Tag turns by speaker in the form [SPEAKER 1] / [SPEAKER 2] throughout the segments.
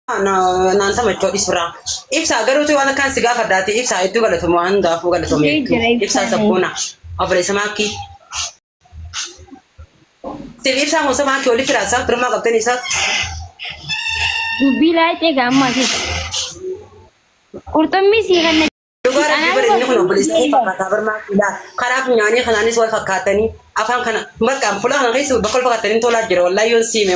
[SPEAKER 1] Naan tamachoo dhisbiraa. Ibsaa garuu waan akkaan si gaafadhaati ibsaa hedduu galatoomi waan hundaafuu galatoomi hedduu. Ibsaa sabboona obboleessa maakkii. Siif ibsaa moosa maakkii walitti raasaa birmaa qabdan isaa. Dubbii
[SPEAKER 2] laayixee gaammaa fi qurxummii sii kanna. Dhugaa rabbii bara inni
[SPEAKER 1] kun obboleessa kee fakkaataa birmaa kiilaa karaa funyaanii kanaanis wal fakkaatanii afaan kana marqaan fulaa kana keessa bakka wal fakkaatanii tolaa jira wallaahi yoon siime.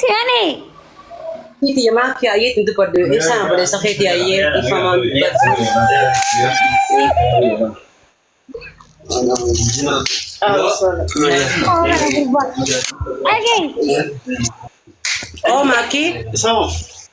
[SPEAKER 2] Si'ani.
[SPEAKER 1] Kiti ya maa kiyaa yee tintu baddu ibsaan obboleessa keeti yaa yee ifamaan baddu. Dhagee. Oo maakii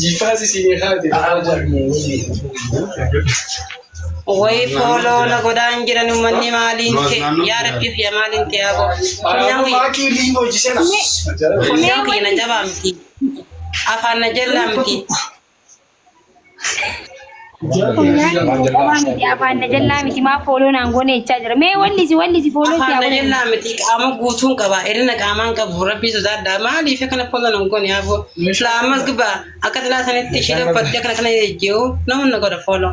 [SPEAKER 3] Jifaasi si ni haati.
[SPEAKER 1] Wayii fooloo na godhaan jiran uummanni maaliin ta'e yaa rabbi kiyya maaliin ta'e yaa gooftaa. Funyaan kiyya- Maatii liin hojii
[SPEAKER 3] sena. funyaan
[SPEAKER 1] kiyya na jabaa miti. Afaan na jallaa miti. Qabaa
[SPEAKER 2] miti afaan na jallaa miti maa fooloo naan goone jechaa jira. Mee wallisi wallisi fooloo si Afaan na haguugu. jallaa miti qaama
[SPEAKER 1] guutuun qaba. Irina qaamaan qabu rabbii sodaadha. Maaliif akkana fooloo nan goone haafoo. Silaa ammas gubbaa akka xilaa sanitti ishee dhabbattee akkana kana jejjeewu nama na godha fooloo.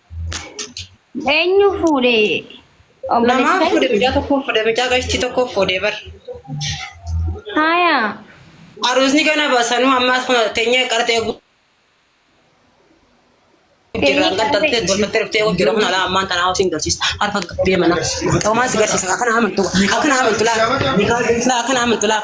[SPEAKER 2] Eenyu fuudhe? Namaa Obboleessi
[SPEAKER 1] fuudhe mucaa tokko fuudhe mucaa gashtii tokko fuudhe bar.
[SPEAKER 2] Haaya.
[SPEAKER 1] Aruusni kana basanuu ammaas kun teenyee qartee gu- jirra kan tattee tolfattee dhuftee kun jedhamu alaa ammaan tanaa hotiin garsiisa harka gabbee mana. Toomaas garsiisa akkana amantu akkana amantu laa laa akkana amantu laa.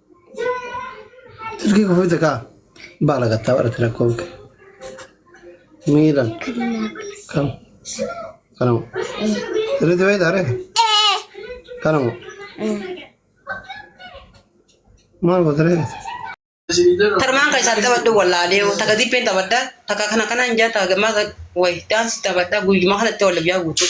[SPEAKER 4] Silkii kufuute kaa baala gattaa barate rakkoon kee. Miidhan kam kanamu sirriitti beektaa reefu kanamu maal goota reefu.
[SPEAKER 1] Tarmaan kan isaatti taphadhu wallaalee takka dippeen taphadha takka kana kana hin jaa takka gammaa wayi daansi taphadha guyyuma kanatti walla biyyaa guutuu.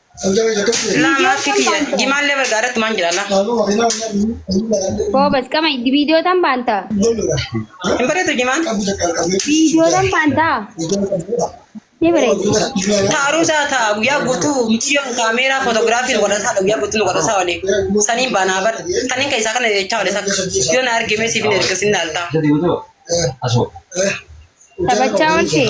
[SPEAKER 1] Laa maaskii kiyya jimaallee bargaa irratti maan jira laa.
[SPEAKER 2] Goobas qama viidiyootan baanta. Hin
[SPEAKER 1] bareedu jimaan. Viidiyootan
[SPEAKER 2] baanta. Ni bareedi. Taaruu isaa
[SPEAKER 1] ta'a guyyaa guutuu miidiyoon kaameeraa footogiraafiin godhataa guyyaa guutuu nu godhataa olee. Saniin baanaa bar. Kanin keessaa kana jechaa olee sakka. Yoo na argee mee siif hin erga sin dhaaltaa. Taphachaa
[SPEAKER 2] ooltee.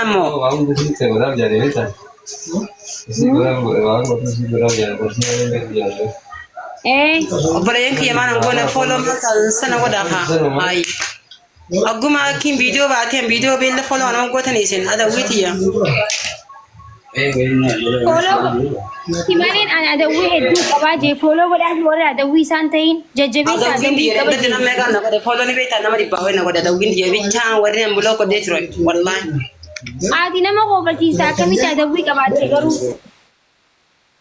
[SPEAKER 1] Amo. Eh. Obboleeyyan kiyya maal hin goone fooloo maal sana godha haa. Ayi. Akkuma akkiin viidiyoo baateen viidiyoo beella fooloo waan gootanii isin adawwii tiyya.
[SPEAKER 2] Simaleen ani adawwii hedduu qabaa jee fooloo godhaaf warri adawwii isaan ta'in jajjabeessa Adawwiin adawwii biyya qaba irratti namni
[SPEAKER 1] jee. egaa na godhe
[SPEAKER 2] fooloo
[SPEAKER 1] ni beektaa nama dhibbaa ho'i na godhe adawwiin biyya bichaa warri an buloo godhee ture wallaahi. Ati
[SPEAKER 2] nama koofachiista akkamitti adawwii qabaatte garuu.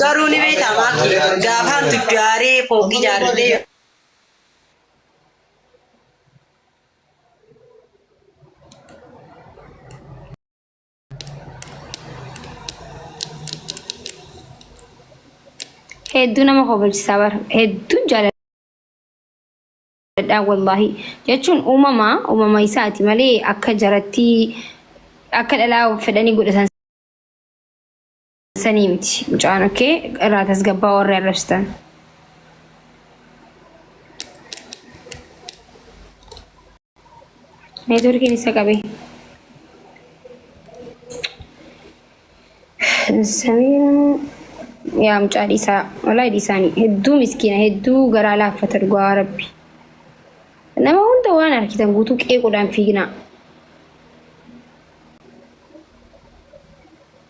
[SPEAKER 1] Garuu
[SPEAKER 2] ni beektaa maakii gaafaan tuddaaree fooqii jaarratee yoo. hedduu nama kofalchisaa bara hedduun jaaladhaa wallaahi jechuun uumama uumama isaati malee akka jarattii akka dhalaa fedhanii godhatan sanii miti mucaan okkee irraa tasgabbaa warri arrabsitan. Neetworkiin isa qabe. Samiin yaa mucaa dhiisaa walaa dhiisaanii hedduu miskiina hedduu garaa laaffata dhugaa rabbi. Nama hunda waan arkitan guutuu qeequudhaan fiignaa.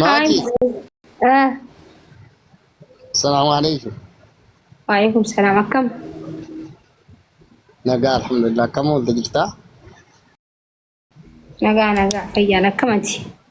[SPEAKER 5] Maati. Ah,
[SPEAKER 2] Salaamu
[SPEAKER 5] alaikum.
[SPEAKER 2] Waalaikum salaam
[SPEAKER 5] akkam? Nagaa alhamdulillah. Akkam oolte jirtaa?
[SPEAKER 2] Nagaa nagaa fayyaan akkamati?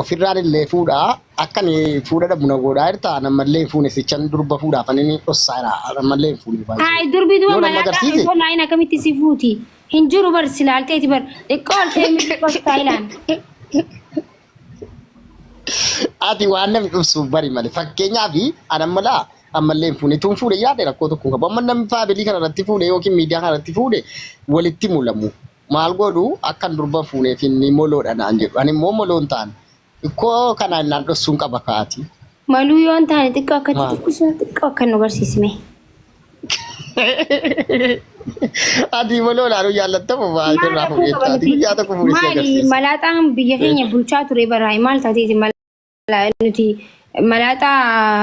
[SPEAKER 2] ofirraan
[SPEAKER 5] illee fuudha akka ni fuudha dhabu na godhaa jirta nammallee hin fuune sichan durba fuudhaaf ani ni dhossaa jira nammallee hin fuune baay'ee. Haay durbi duba Yoo nama malaaqa
[SPEAKER 2] agarsiise osoo laayin akkamitti si fuuti? Hin jiru bar si laalteeti bar. Xiqqoo ol kee miti xiqqoo si taayilaan.
[SPEAKER 5] ati waan namni dhufsuuf bari malee fakkeenyaaf ani amma laa ammallee hin fuune tuun fuudhe yaade rakkoo tokko hin qabu amma namni faabilii kana irratti fuudhe yookiin miidiyaa kana irratti fuudhe walitti mulamu Maal godhu akkan durba fuuneef inni moloodha naan jedhu. Ani immoo moloo hin taane. Ikkoo kanaa innaan dhossuun qaba kaati. Maluu yoo hin
[SPEAKER 2] taane xiqqoo akkatti Maal? xiqqisuu xiqqoo akka nu barsiisme.
[SPEAKER 5] Ati moloo ilaaluu jaallattamu baay'ee Maal irraa rakkoo fuudheetta. qaba Ati nuti? guyyaa tokko fuudhee si Maali agarsiisa. malaaxaan
[SPEAKER 2] biyya keenya bulchaa ture baraa maal taateeti malaa nuti malaaxaa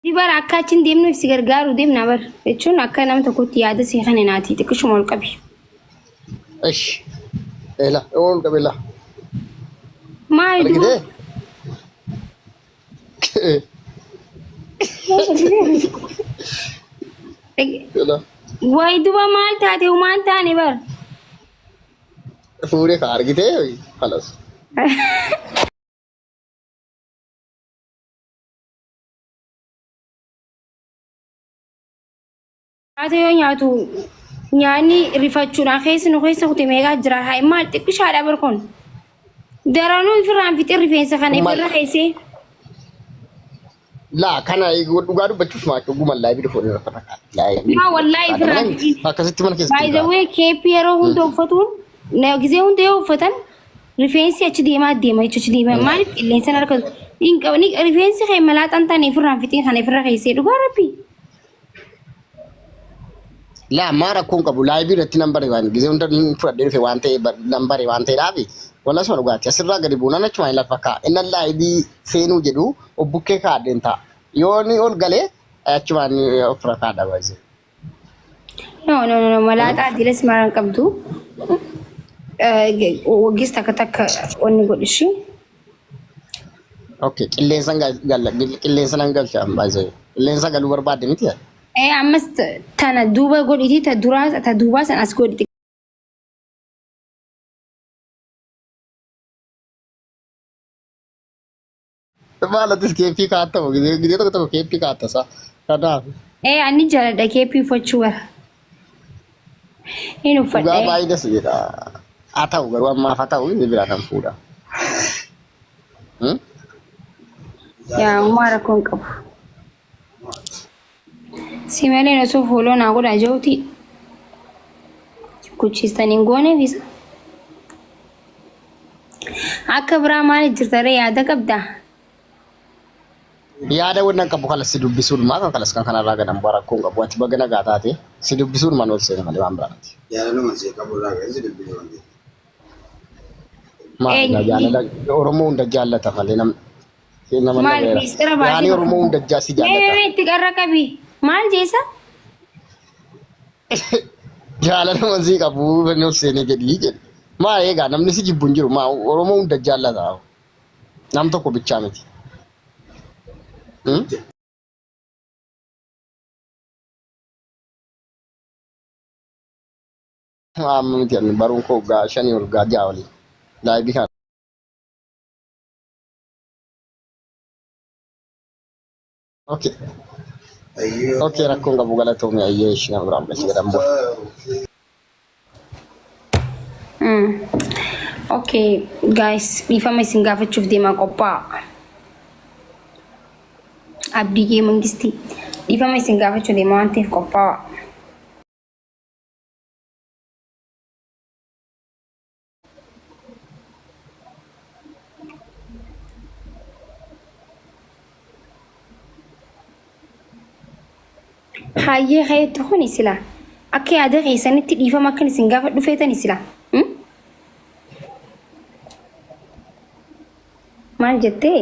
[SPEAKER 2] Si bara akka achi hin deemneef si gargaaruu deemna bar jechuun akka nama tokkotti yaada si kenne naati xiqqishuma ol qabi.
[SPEAKER 5] Ish. Ela. Ol qabela.
[SPEAKER 2] Maal Argite? Ela.
[SPEAKER 5] Wayi
[SPEAKER 2] duba maal taate humaan taane bar.
[SPEAKER 5] Fuudhee ka argite. Halas.
[SPEAKER 2] Haati yoo nyaatu nyaanni rifachuudhaan keessa nu keessa kutee meeqaa jira haa maal xiqqishaadha bar kun daranuu ifirraan fixee rifeensa kana Kun maal? ifirra
[SPEAKER 5] keessee Laa kana dhugaa dubbachuuf maa dhuguma laa biduu fuudhee rakkata. Yaa wallaahi
[SPEAKER 2] ifirraan fixee. Akkasitti mana keessatti. By the
[SPEAKER 5] way keeppi yeroo
[SPEAKER 2] hunda uffatuun na- gisee hunda yoo uffatan Rifeensi achi deemaa deema jechuun achi deemaa maaliif qilleensa harka hin qabne rifeensi kee malaaxaan taane ofirraan fixee kana ofirra keessee dhugaa rabbi.
[SPEAKER 5] Laa maa rakkoon qabu laayivii irratti nan bare waan gisee hunda hin fudhadhee dhufe waan ta'e nan bare waan ta'eedhaafi wala suma dhugaati asirraa gadi buunaan achuma hin lafa ka'a innan laayivii seenuu jedhu obbukkee kaa'adheen ta'a yoo ni ol galee achumaan ofirra kaa'adha baay'isee.
[SPEAKER 2] No, no, no, no. Malaaxaa diilas maraan qabdu. Waggees takka takka wanni godhishi.
[SPEAKER 5] Okay, qilleensa gal- galla- gil- qilleensa nan galcha baay'ee. Qilleensa galuu barbaadde miti yaa? Eh, ammas t-
[SPEAKER 2] tana duuba godhiti ta duraa ta duubaa san as godhiti.
[SPEAKER 5] Maal atis keeppii kaatta moo gidee gidee tokko tokko keeppii kaatta isaa. Kanaaf Ee ani jaaladha
[SPEAKER 2] keeppii uffachuu bara. Hin dhugaa uffadhe. baay'ee das jedha.
[SPEAKER 5] Haa ta'u garuu ammaaf haa ta'u inni biraa kan fuudha. Hmm?
[SPEAKER 2] Yaa uumaa rakkoon qabu. Si malee osoo fooloo naa godhaa ja'uuti kuchiistan hin goone bisa. Akka biraa maali jirtaree yaada qabdaa?
[SPEAKER 5] Yaada wannan qabu kalas si dubbisuun maa kan kalas kan kanarraa gadan bu'aa rakkoon qabu ati baga nagaa taate si dubbisuun man ol seena malee waan biraa miti. Jaalaluma si qabu
[SPEAKER 3] irraa
[SPEAKER 5] kan si dubbisu waan ta'eef. Maali Eenyu? jaalala Oromoo hunda jaallata malee namni Nama Maal nameera. miistira
[SPEAKER 2] baasii Yaani Oromoo hunda jaasi Mee mee
[SPEAKER 5] jaallata. mee itti qarra qabi.
[SPEAKER 2] Maal jeessa?
[SPEAKER 5] Jaalala nama sii qabu fannoo seenee jedhii jedhe. Maa eegaa namni si jibbu hin jiru. Maa Oromoo hunda jaallata. Nam tokko bichaa miti. Hmm? Amma miti ani baruun koo gaa shanii ol gaa ja'a olii. Laayibii kana. Okay. Okay, rakkoon qabu galatoomii ayyee ishii nama biraan bilachi jedhamu. Mm. Okay,
[SPEAKER 2] guys, dhiifama isin gaafachuuf deemaa qophaa'a. Abdii kee mangistii. Dhiifama isin gaafachuu deemaa waan ta'eef qophaa'a. Hayyee keetti kuni sila akka yaada keessanitti dhiifama akkan isin gaafa dhufeetani sila. Hmm? Maal jettee?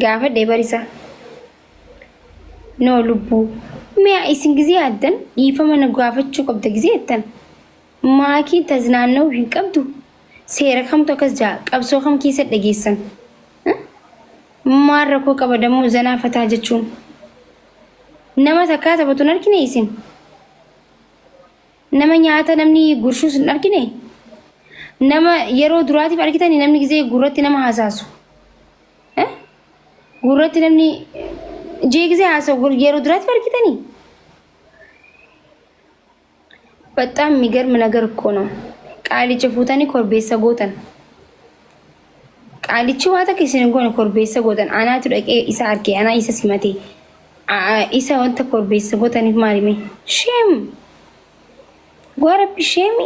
[SPEAKER 2] gaafadhe barisaa. Noo lubbuu. Mee isin gizee addan dhiifama na gaafachuu qabda gizee jettan. Maakii taznaanna'uu hin qabdu. Seera kamtu akkas ja'a qabsoo kam keessa dhageessan. Eh? Maal rakkoo qaba dammoo zanaa fataa jechuun. Nama takkaa taphatu hin argine isin. Nama nyaata namni gurshuus hin argine? Nama yeroo duraatiif argitanii namni gizee gurratti nama haasaasu? Eh? Gurratti namni jee gizee haasa'u gur- yeroo duraatiif argitanii? Baxxaam migarm nagar እኮ ነው. Qaalicha fuutanii korbeessa gootan. Qaalichi waa takka isin hin goone korbeessa gootan anaatu dhaqee isa arke anaa isa simate isa wanta korbeessa gootaniif maalime sheem gowaa rabbi sheemi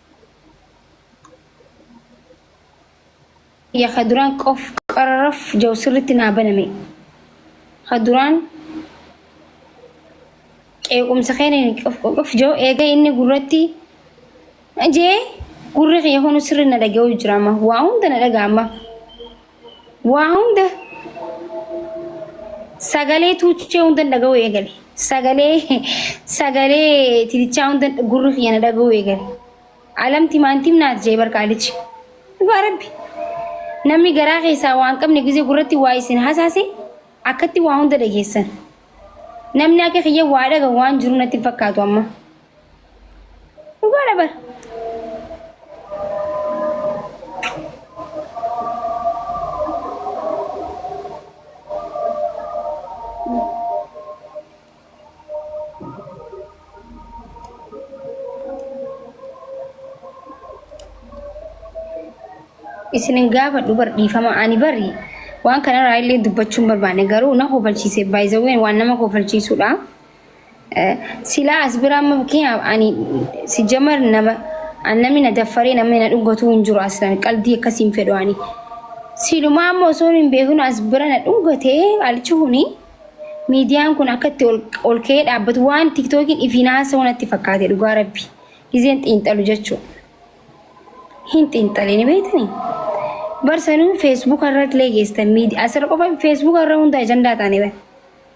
[SPEAKER 2] ya ka duraan qof qararaf jau sirritti naa baname ka duraan qeequmsa keenan qof qof jau eega inni gurratti jee gurri kiyya kunu sirri na dhaga'u jira amma waa hunda na dhaga'a amma Waa hunda sagalee tuuchee hundan dhaga'uu eegale. Sagalee sagalee titichaa hundan gurri kiyya na dhaga'uu eegale. Alamti maantim naat jee barqaalichi. Dhugaa rabbi. Namni garaa keessaa waan qabne gizee gurratti waa isin hasaase akkatti waa hunda dhageessan. Namni akka kiyya waa dhaga waan jiru natti hin fakkaatu amma. Dhugaadha bar. Isinin gaafadhu bar dhiifama ani bari waan kanarraa illee dubbachuun barbaanne garuu na kofalchiise baay'isawween waan nama kofalchiisudha. Silaa as bira amma fakkeenyaaf ani si jamar nama an namni na daffaree namni na dhungatuu hin jiru aslan qalbii akkasii hin fedhu ani. Silumaa amma osoo hin beeknu as bira na dhungatee alichi kuni miidiyaan kun akka itti ol- ol ka'ee dhaabbatu waan tiktookiin ifiin haasa'u natti fakkaate dhugaa rabbi. Gizeen xiinxalu jechuudha. Hin xiinxalee ni beektanii? Barsanuu feesbuuka irratti illee geestan miidiyaa asirra qofa feesbuuka irra hunda ajandaa taane bara.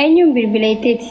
[SPEAKER 2] Eenyuun bilbila itteeti?